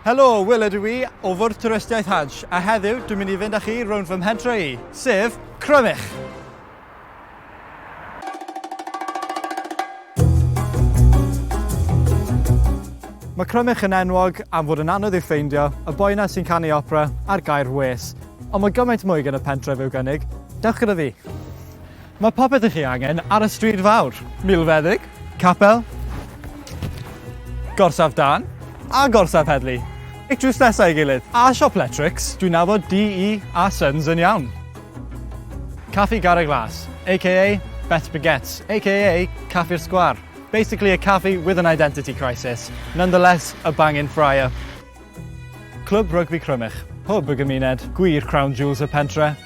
Helo, Wil ydw i, o Fwrdd Twristiaeth Hajj, a heddiw dwi'n mynd i fynd â chi rownd fy mhentre i, sef Crymych! Mae Crymych yn enwog am fod yn anodd i'w ffeindio, y boi yna sy'n canu opera, a'r gair wês. Ond mae gymaint mwy gan y pentref i'w gynnig. Dewch gyda fi! Mae popeth i chi angen ar y stryd fawr, milfeddyg, capel, gorsaf dân a gorsaf heddlu, like drws nesa ei gilydd. A siop letrics, dwi'n nabod DE a Sons yn iawn. Caffi Garreg Las, aka Beth Baguettes, aka Caffi'r Sgwâr. Basically a caffi with an identity crisis, nonetheless a bangin' fryer. Clwb Rygbi Crymych, hwb y gymuned, gwir crown jewels y pentre.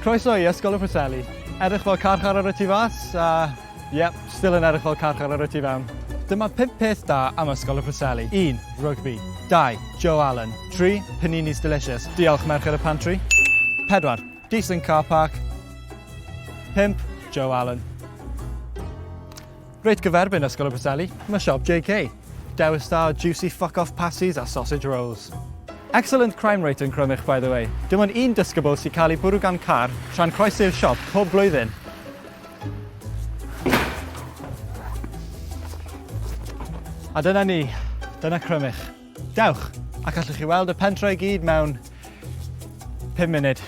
Croeso i Ysgol y Preseli. Edrych fel carchar ar y tu fas a yep, still yn edrych fel carchar ar y tu fewn. Dyma 5 peth da am Ysgol y Preseli. 1. Rugby. 2. Joe Allen. 3. Paninis delicious. Diolch merched y pantry. 4. Decent car park. 5. Joe Allen. Reit gyferbyn Ysgol y Preseli, mae siop JK. Dewis da o juicy fuck off pasties a sausage rolls. Excellent crime rate yn Crymych by the way. Dim ond un disgybl sy'n cael ei bwrw gan car tra'n croesi'r siop pob blwyddyn. A dyna ni, dyna Crymych. Dewch, ac allwch chi weld y pentre i gyd mewn 5 munud.